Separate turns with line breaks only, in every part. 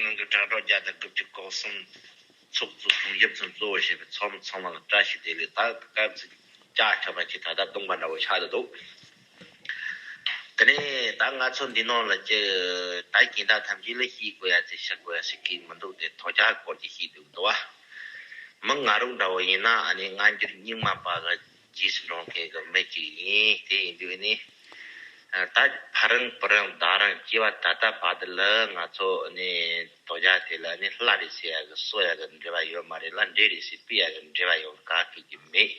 ནང་གི་དྲ་གྲོགས་བརྒྱ་དང་དགུ་བཅུ་སྐོར་གསུམ་ཚོགས་གཙོ་གསུམ་ཞབས་ཚོན་གཙོ་བོ་བྱས་པའི་ཚོགས་མི་ཚང་མ་ལ་བཀྲ་ཤིས་བདེ་ལེགས་དང་སྐར་རྩིས་བཀྱག་ཆོག་པ་ཞིག་ད་ལྟ་སྟོང་པ་འདྲ་བོ་ཆགས་བསྡད་འདུག་དེ་ནས་ད་ང་ཚོ་འདི་ནང་ལ་ཅི་ད་གྱེན་བདག་ཐམས་ཅད་ལ་ཤིས་དགོས་ཡ་ཚེ་བཤགས་དགོས་ཡ་ཞིག་གི་མི་འདུག་སྟེ་ཐོག་ཆར་སྐོར་གྱི་ཤིས་དུས་འདུག་བ། མི་ང་རོ་འདྲ་བོ་ཡིན་ན་ཨ་ནི་སྔ་འགྱུར་རྙིང་མ་པ་ལ་རྗེས་སུ་འབྲང་མཁན་གྱི་མི་གཅིག་ཡིན། དེ་ཡིན་དུས་ནི། ད་ཕ་རང་བུ་རང་བདག་རང་སྐྱེས་པ་ད་ལྟ་བར་དུ་ལ་ང་ཚོ་ནི་དོ་རྒྱ་དེ་ལ་ནི་སླར་རེ་བྱས་ཡག་གི་གསོ་ཡག་གི་འབྲེལ་བ་ཡོད་མ་རེད་ལ་འབྲེལ་རེ་བྱས་སྤི་ཡག་གི་འབྲེལ་བ་ཡོང་ག་ཁེལ་གྱི་མེད།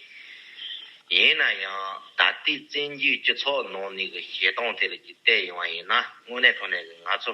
ཡིན་ན་ཡང་ད་ལྟའི་བཙན་རྒྱུད་སྤྱི་ཚོགས་ནང་ནས་གི་བྱེད་སྟངས་དེ་ལ་གྱི་བལྟས་ཡོང་བ་ཡིན་ན་དངོས་གནས་ཐོག་ནས་གི་ང་ཚོ།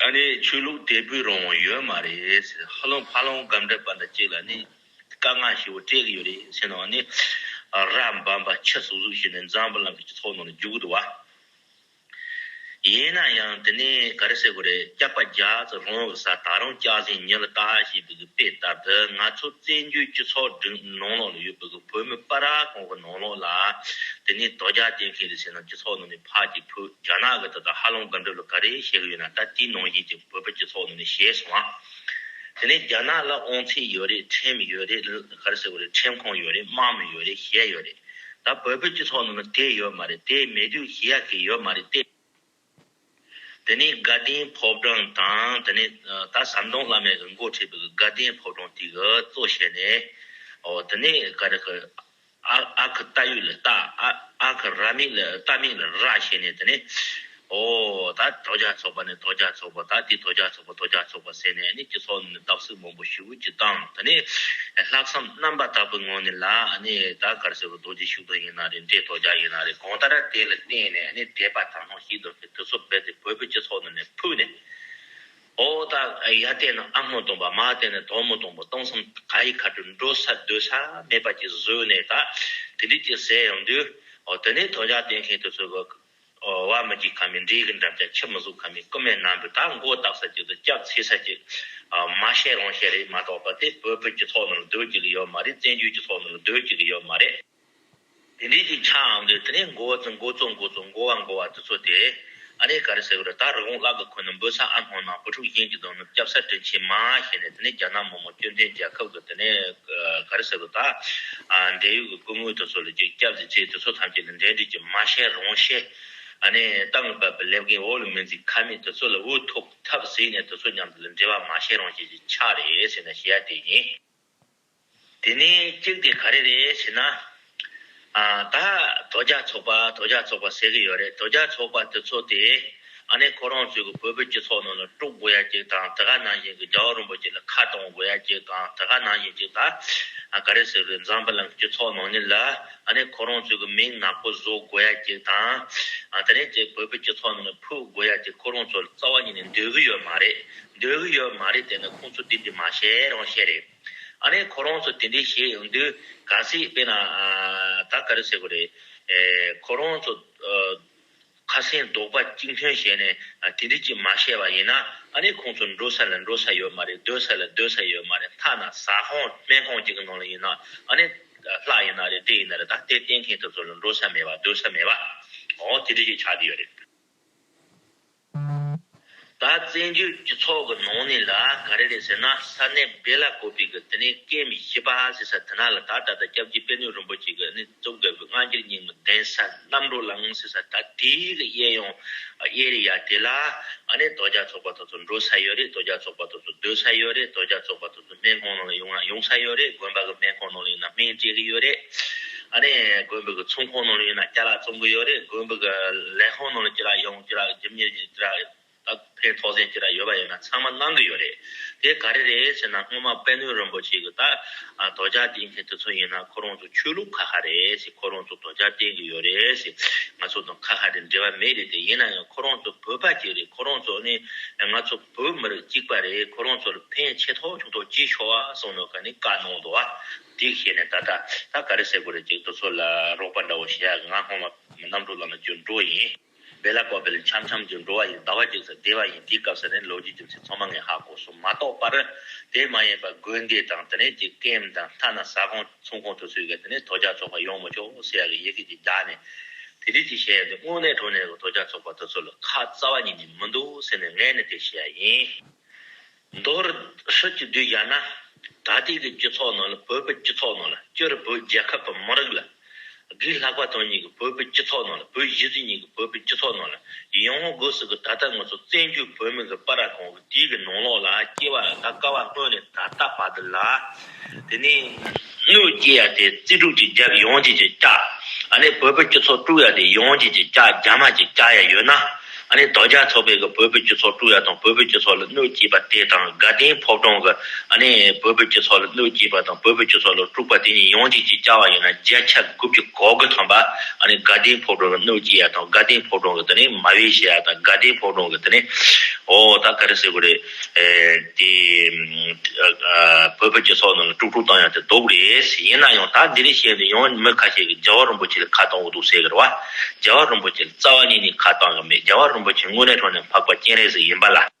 ད་ནི་ཆོས་ལུགས་དད་པོའི་རང་དབང་ཡོད་མ་རེད། ཧ་ལོང་ཕ་ལོང་སྒམ་དྲལ་པ་འདྲ་ཅིག་ལ་ནི་དཀའ་ངལ་ཞེ་བོ་སྤྲད་གི་ཡོད་རེད་ཟེར་ནའང་ནི། ར་འབམ་པ་ཁྱི་ཟུག་ཟུག་བྱས་ནས་འཛམ་བུ་གླང་གི་སྤྱི་ཚོགས་ནང་ལ་རྒྱུག་གི་འདུག་བ། ཡིན་ན་ཡང་དེ་ནི་ག་རེ་ཟེར་དགོས་རེད་སྐྱག་པ་རྒྱག་ཙི་རང་གི་ས་ད་རུང་སྐྱག་ཟིང་ཉེ་ལ་བཏགས་ཞེས་པའི་དཔེ་ལྟར་དུ་ང་ཚོ་བཙན་བྱོལ་སྤྱི་ཚོགས་སྒྲིག་ནང་ལོག་ལ་ཡོད་པའི་བོད་མི་པ་རཱ་གོང་གི་ནང་ལོགས་ལ། དེ་ནས་དོ་རྒྱ་བསྟེན་མཁན་རེད་ཟེར་ན་སྤྱི་ཚོགས་ནང་ནས་ཕག་གིས་ཕུད་རྒྱ་ནག་གི་དེ་དང་ཧ་ལམ་དགའ་འབྲེལ་ལ་ག་རེ་བྱེད་གི་ཡོད་ན་ད་དེའི་ནང་བཞིན་གྱི་བོད་པ་སྤྱི་ཚོགས་ནང་ནས་བྱས་སོང་ཨ། དེ་ནས་རྒྱ་ནག་ལ་ཨོང་ཚིག་ཡོད་རེད་ཁྲེམ་མི་ཡོད་རེད་ག་རེ་ཟེར་གི་རེད་ཁྲེམ་ཁོང་ཡོད་རེད་དམག་མི་ཡོད་རེད་བྱས་ཡོད་རེད། ད་བོད་པའི་སྤྱི་ཚོགས་ནང་ན་དེ་ཡོད་མ་རེད་དེ་མེད་དུས་བྱེད་ཡ་གི་ཡོད་མ་རེད་ཏེ། དེ་ནས་དགའ་ལྡན་ཕོ་བྲང་དང་དེ་ནས་ད་ཟམ་གདོང་བླ་མའི་གི་མགོ་ཁྲིད་པའི་གི་དགའ་ལྡན་ཕོ་བྲང་དེའི་གི་གཙོ་བྱས་ནས། ཨོ་དེ་ནས་ག་རེ་གི། ཨ་ཨ་གི་རྟ་ཡུལ་ལ་རྟ་ཨ་ཨ་གི་ར་མིག་ལ་རྟ་མིག་ལ་ར་བྱས་ནས་དེ་ནས། ཨོ་ད་དོ་རྒྱ་ཚོགས་པ་ནས་དོ་རྒྱ་ཚོགས་པ་ད་དེ་དོ་རྒྱ་ཚོགས། ལྷག་པ་དོ་རྒྱག་ཆོག་པ་ཟེར་ནས་ནི་སྤྱི་ཚོགས་ནང་ནས་རྟགས་གསུབ་མང་པོ་ཞུ་ཀུ་ཅིག་བཏང་ད་ནི་ལྷག་བསམ་རྣམ་པ་དག་པོའི་ངང་ནས་ལ་ནི་ད་གར་ཟེར་བ་རྡོ་རྗེ་ཤུགས་ལྡན་ཡིན་ན་རེད་འདྲེ་དོ་རྒྱག་ཡིན་ན་རེད་གང་ལྟར་དེ་ལ་བརྟེན་ནས་ནི་དད་པ་དག་སྣང་ཞིག་འདོན་པའི་དུས་ཚོད་རྦད་དེ་བོད་པའི་སྤྱི་ཚོགས་ནང་ནས་ཕུད་ནས་ཨོ་ད་ཡར་བལྟས་ན་ཨ་སྔོན་སྟོང་པ་མར་བལྟས་ན་དོག་མོ་སྟོང་པ་སྟོང་བསམ་ག་ཡི་ཁ་དྲོ་འགྲོ་ས་སྡོད་ས་མེད་པ་ཅིག་བཟོས་ནས་ད་དེ་འདྲས་ཅིག་ཟེར་ཡོང་དུས་ཨོ་ད་ནི་དོ་རྒྱག་བལྟས་མཁན་དེ་ཚོའི་བར་བ་མི་བགྱིད་ཁ་མི་འབྲས་ཀྱི་འགྲམ་ལྕག་ཁྱི་མི་གཟུགས་ཁ་མི་ཀུ་མའི་སྣ་འབུད་དག་མགོ་བཏགས་ས་ཅིག་ཏུ་སྐྱབས་ཚེ་ས་ཅིག། མ་བཤད་རང་བཤད་རེད་མ་གྲོགས་པ་དེ་བོད་བོད་ཀྱི་ཐོག་ནས་ལ་སྡོད་ཀྱི་གི་ཡོད་མ་རེད་བཙན་བྱོལ་གྱི་ཐོག་ནས་ལ་སྡོད་ཀྱི་གི་ཡོད་མ་རེད། དེ་འདྲས་ཀྱི་ཆ་འམ་དེ་ནས་མགོ་བ་ཙི་མགོ་གཙོ་མགོ་གཙོ་མགོ་བ་མགོ་བ་དེ་ཚོ་དེ་ཨ་རེ་ག་རེ་ཟེར་གི་རེད་ད་རི་བོང་གླག་གི་ཁུ་ནས་འབུད་ས་ཨ་སྣོང་ནང་བུ་ཕྲུག་གཞན་གྱི་གདོང་ནས་སྐྱབས་ས་དྲིན་ཆེན་མ་ཞེས་ནས་དེ་ནས་རྒྱ་ནག་མི་མང་སྐྱོན་བྲལ་རྒྱལ་ཁབ་ཀྱི། དེ་ནས་ག་རེ་ཟེར་བ་དག། འབྲས་ཡུལ་གྱི་སྐུ་དངོས་དེ་ཚོ་ལ་གཅིག་སྐྱབས་སུ་མཆི་དེ་ཚོ་ཐམས་ཅད་ལ་འབྲས་འདྲིལ་གྱི་མ་བཤད་རང་བཤད། ནས་སྟང་གི་བབས་པས་ལེབ་རྒན་འོག་ལ་མི་འཛེག་ཁ་མེད་དེ་ཚོ་ལ་འུ་ཐུག་ཐབས་གཟིགས་ནས་དེ་ཚོ་མཉམ་དུ་ལ་འབྲེལ་བ་མ་བཤད་རང་བཤད་ཀྱི་ཆ་རེད་ཟེར་ན་བཤད་ཡ་དེ་ཡིན། དེ་ནས་གཅིག་དེ་ག་རེ་རེད་ཟེར་ན། ད་དོ་རྒྱ་ཚོགས་པ་དོ་རྒྱ་ཚོགས་པ་ཟེར་གྱི་ཡོད་རེད་དོ་རྒྱ་ཚོགས་པ་དེ་ཚོ་དེ་ཨ་ནེ་ཁོ་རང་ཚོས་གི་བོད་པའི་སྤྱི་ཚོགས་ནང་ལ་དཀྲུག་དགོས་ཡ་ཅིག་དང་དེ་ག་ནང་བཞིན་གི་རྒྱ་བ་རིན་པོ་ཆེ་ལ་ཁ་གཏོང་དགོས་ཡ་ཅིག་དང་དེ་ག་ནང་བཞིན་ཅིག་ད་ག་རེ་ཟེར་བའི་འཛམ་བུ་ལམ་གི་སྤྱི་ཚོགས་ནང་ནས་ལ་ཨ་ནེ་ཁོ་རང་ཚོས་གི་མིང་ནག་པོ་བཟོ་དགོས་ཡ་ཅིག་དང་དེ་ནས་དེ་བོད་པའི་སྤྱི་ཚོགས་ནང་ལ་ཕུད་དགོས་ཡ་ཅིག་ཁོ་རང་ཚོ་ལ་རྩ་བ་ཉིད་ནས་འདོད་གི་ཡོད་མ་རེད་འདོད་གི་ཡོད་མ་རེད་དེ་ནི་ཁོང་ཚོ་དེ་འདྲི་མ་བྱེད་རང་བྱེད་རེད། ཨ་ནེ་ཁོ་རང་ཚོ་དེ་འདྲས་བྱེད་ཡོང་དུས་ག་ཚད་དཔེ་ན་ད་ག་རེ་ཟེར་གོ་རེད། ཁོ་རང་ཚོ་ཁ་སེང་རྡོག་པ་གཅིག་འཐོན་བྱས་ནས་དེ་འདྲས་ཀྱི་མ་བཤད་པ་ཡིན་ན་ཨ་ནེ་ཁོང་ཚོ་འགྲོ་ས་ལ་འགྲོ་ས་ཡོད་མ་རེད་སྡོད་ས་ལ་སྡོད་ས་ཡོད་མ་རེད་མཐའ་ན་ཟ་ཁང་སྨན་ཁང་གཅིག་གི་ནང་ལ་ཡིན་ན་ཨ་ནེ་ལྷ་ཡིན་ན་རེད་དྲེད་ཡིན་ན་རེད་ད་ལྟའི་བསྟེན་མཁན་དེ་ཚོ་ལ་འགྲོ་ས་མེད་པ་སྡོད་ས་མེད་པ་འོ་དེ་འདྲས་ཀྱི་ཆགས་ཀྱི་ཡོད་རེད། ད་བཙན་བྱོལ་སྤྱི་ཚོགས་ཀྱི་ནང་ནས་ལ་ག་རེ་རེད་ཟེར་ན་ས་གནས་བེ་ལ་གོ་པི་གི་དེ་ནས་སྐད་མི་ཤེས་པ་ཟེར་ས་དེ་ན་ལ་ད་ད་ལྟ་སྐྱབས་རྗེ་དཔལ་ནུས་རིན་པོ་ཆེ་གི་ནི་རྩོམ་ག་བི་སྔ་འགྱུར་རྙིང་མི་གདན་ས་རྣམ་རོ་ལངས་ཟེར་ས་ད་དེ་གི་དབྱེ་ཡོང་དབྱེ་རེ་ཡ་དེ་ལ་ཨ་ནེ་དོ་རྒྱ་ཚོགས་པ་དོ་ཚོ་འགྲོ་ས་ཡོད་རེད་དོ་རྒྱ་ཚོགས་པ་དོ་ཚོ་སྡོད་ས་ཡོད་རེད་དོ་རྒྱ་ཚོགས་པ་དོ། གི་སྨན་ཁང་ནང་ལ་ཡོང་ན་ཡོང་ས་ཡོད་རེད་དགོན་པ་གི་སྨན་ཁང་ནང་ལ་ཡོང་ན་སྨན་སྤྲད་གི་ཡོད་རེད། ཨ་ནི་དགོན་པའི་གི་ཚོང་ཁང་ནང་ལ་ཡོང་ན་སྐྱ་ལག་བཙོང་གི་ཡོད་རེད་དགོན་པའི་གི་ལས་ཁང་ནང་ལ་ཅི་རག་ཡོང་ཅི་རག་རྒྱུ་མྱི་རྒྱུ་ཅི་རག་ད་ཕན་ཐོག་ཟས་ཅི་རག་ཡོད་པ་ཡོད་ན་ཚང་མ་གནང་གི་ཡོད་རེད། དེ་ག་རེ་རེད་ཟེར་ན་སྔོན་མ་དཔལ་ནོན་རིན་པོ་ཆེ་གི་ད་དོ་ཇག་སྟེན་མཁན་དེ་ཚོ་ཡིན་ན་ཁོ་རང་ཚོ་ཆོས་ལུགས་ཁ་ཁ་རེད་ཟེར་ཁོ་རང་ཚོ་དོ་ཇག་སྟེན་གི་ཡོད་རེད་ཟེར་ང་ཚོ་དང་ཁ་ཁ་རེད་འབྲེལ་བ་མེད་རེད་དེ་ཡིན་ན་ཡང་ཁོ་རང་ཚོ་བོད་པ་གཅིག་རེད་ཁོ་རང་ཚོ་ནི་ང་ཚོ། བོད་མིར་གཅིག་པ་རེད་ཁོ་རང་ཚོར་ཕན་ཆེ་ཐོག་ཆུང་ཐོག་ཅི་ཤོར་བ་གསུང་ནོ་ག་ནི་བཀའ་གནང་འདུག་ཨ། དེ་ཤེས་ནས་ད་ལྟ་ད་ག་རེ་ཟེར་དགོས་རེད་ཅེས་དུ་ཚོད་ལ་རོགས་པ་འདྲ་བོ་བྱས་ཡག་གི་ང་སྔོན་མ་གནམ་གྲུ་ལམ་ལ་བརྒྱུགས་འགྲོ་ཡིན། བེ་ལ་ཀོ་བེ་ལ་འཆམ་འཆམ་བརྒྱུགས་འགྲོ་བ་ཡིན་ཟླ་བ་གཅིག་ཟེར་བདེ་བ་ཡིན་དེའི་སྐབས་ཟེར་ནས་ལོ་རྒྱུས་རྒྱུ་མཚན་ཚང་མ་ངས་ཧ་གོ་སོང་མ་གཏོགས་པར། དེ་མ་ཡིན་པར་དགོན་སྡེ་དང་དེ་ནས་ཀྱི་སྐེམ་དང་མཐའ་ན་ཟ་ཁང། ཚོང་ཁོངས་དུ་ཚུད་མཁན་དེ་ནི་དོ་ཅག་ཚོགས་པ་ཡོངས་མི་ཆོག་སེ་ཡག་གི་ཡེ་གེ་ཅིག་བརྡ་ནས། དེ་དུས་ཀྱི་གཞན་ཡང་དེ་དངོས་གནས་དྲུང་ནས་དོ་ཅག་ཚོགས་པ་དེ་ཚོ་ལ་ཁ་རྩ་བ་ཉིད་ནས་མི་འདུག་ཟེར་ནས་ངས་ནི་དེ་བཤད་ཡ་ཡིན། མདོར། ཧྲིལ་གྱིས་བསྡུས་བཞག་ན། ད་ལྟའི་གི་སྤྱི་ཚོགས་ནང་ལ་བོད་པའི་སྤྱི་ཚོགས་ནང་ལ་སྤྱིར་བོད་རྒྱལ་ཁབ་དང་མི་རིགས་ལ། སྒིག་ལྷག་པ་དོན་གཉིས་གི་བོད་པའི་སྤྱི་ཚོགས་ནང་ལ་བོད་གཞི་རྩའི་གཉིས་གི་བོད་པའི་སྤྱི་ཚོགས་ནང་ལ་ཡང་ངོ་རྒོལ་སྲིད་གི་ད་ལྟ་ང་ཚོ་བཙན་བྱོལ་བོད་མི་གི་པ་ར་གང། དུས་ཀྱི་ནང་ལོགས་ལ་སྐྱེ་བ་དགག་དཀའ་བ་སྔོན་ནས་ད་ལྟ་བར་དུ་ལ། དེ་ནས་གནོད་སྐྱེལ་ཡ་དེ་རྩིས་དྲུག་ཅིག་རྒྱབ་ཡོངས་བྱེད་ཀྱི་ལྕགས། ཨ་ནི་བོད་ཕོ་སྐྱེ་ཚོགས་དཀྲུག་ཡ་དེ་ཡོངས་བྱེད་ཀྱི་ལྕགས་རྒྱ་མ་ཀྱི་ལྕགས་ཡ་ཡོད་ན། ཨ་ནི་རྡོ་རྒྱ་ཚོགས་པས་གི་བོད་ཕོ་སྐྱེ་ཚོགས་དཀྲུག་ཡ་དང་བོད་ཕོ་སྐྱེ་ཚོགས་ལ་གནོད་སྐྱེལ་པ་དེ་དང་དགའ་ལྡན་ཕོབ་གྲོང་གི། ནི། བོད་བོད་ཀྱི་ཚོགས་ལ་གནོད་སྐྱེལ་བ་དང་བོད་བོད་ཀྱི་ཚོགས་ལ་དཀྲུགས་པ་དེ་གཉིས་ཡོངས་གཅིག་ཅིག་ཅར་བ་ཡིན་ན་བརྒྱ་ཆ་དགུ་བཅུ་གོ་དགུ་ཐོན་པ། ནི། དགའ་ལྡན་ཕོ་བྲང་གི་གནོད་སྐྱེལ་ཡ་དང་དགའ་ལྡན་ཕོ་བྲང་གི་དེ་ནི་མ་བེད་བྱེད་ཡ་དང་དགའ་ལྡན་ཕོ་བྲང་གི་དེ་ནི། ཨོ་ད་ག་རེ་ཟེར་དགོས་རེད། དེ། བོད་བོད་ཀྱི་ཚོགས་རྣམས་ལ་དཀྲུགས་དཀྲུགས་བཏང་ཡ་དེ་ལྡོག་གི་རེད། ཡིན་ན་ཡང་ད་འདི་རིགས་བཤད་འདི་ཡོངས་མི་ཁ་ཤས་ཀྱི་རྒྱལ་བ་རིན་པོ་ཆེ་ལ་ཁ་བཏང་བོ་འདུག་ཟེར་གི་རེད་བ། རྒྱལ་བ་རིན་པོ་ཆེ་ལ་རྩ་བ་ཉིད་ནས་ཁ་བཏང་གི་མེད་རྒྱལ་བ་རིན་པོ་ཆེ་དངོས་གནས་ཁྲོ་ནས་འཕགས་པ་སྤྱན་རས་གཟིགས་ཡིན་པ་ལ།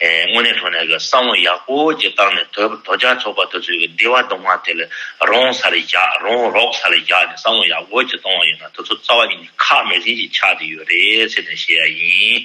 དངོས་གནས་ཐོག་ནས་བསམ་བློ་ཡག་པོ་ཅིག་བཏང་ནས་དོལ་པོ་དོལ་རྒྱལ་ཚོགས་པ་དེ་ཚོའི་བདེ་བ་སྡུག་བསྔལ་དེ་ལས་རོང་ས་ལས་རྒྱག་རོང་རོགས་ས་ལས་རྒྱག་ནས་བསམ་བློ་ཡག་པོ་ཅིག་གཏོང་བ་ཡིན་ན་དེ་ཚོ་རྩ་བ་ཉིད་ནས་ཁག་མེད་ཟིན་གྱིས་ཆགས་ཏེ་ཡོད་རེད་ཟེར་ནས་བཤད་ཡ་ཡིན།